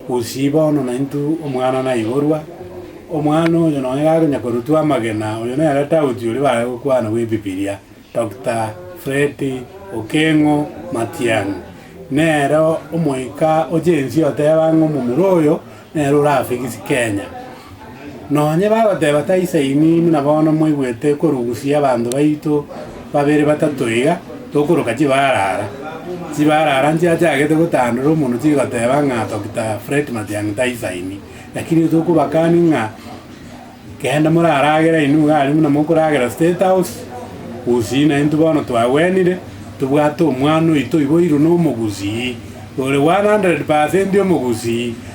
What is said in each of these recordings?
Gose bono naintwe omwana naiborwa, omwana oyo nonya gakonya korutwa amagena, oyo nere Tauti oria bare gokwana bw'Ebibilia, Doctor Fred Okengo Matiang'i. Nere omoika o Gen-Z oteba ng'a omomura oyo nere orafigisie Kenya. Nonye bagoteba, Taisaini buna bono mwaigwete korusia abanto baito babere batato iga, tokoroka chibaara ara. Chibaara ara nchiachagete gotandora omonwa chigoteba ng'a Dokita Fred Matiang'i taisaini. Lakini tokobakani ng'a genda moraragere inwe iga aria buna mokoragera State House, gusii naintwe bono twagwenire, tobwate omwana oito oiboirwe nomogusii, ore one hundred percent omogusii,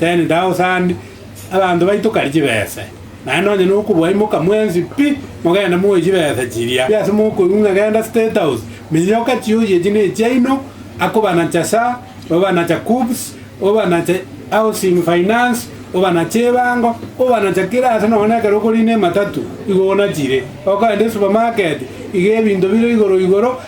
Ten thousand abanto baito kare chibese, naende nonya nokobaimoka mwensi pi mogende moe chibese chiria pi ase mokoirunga genda state house miyoka chiosi echi nechiaino akobanacha sa obanacha KUBS obanache housing finance obanache ebango obanacha kira ase nonya ekero okorina ematatu igo onachire okogenda esupermarket iga ebinto bire igoro igoro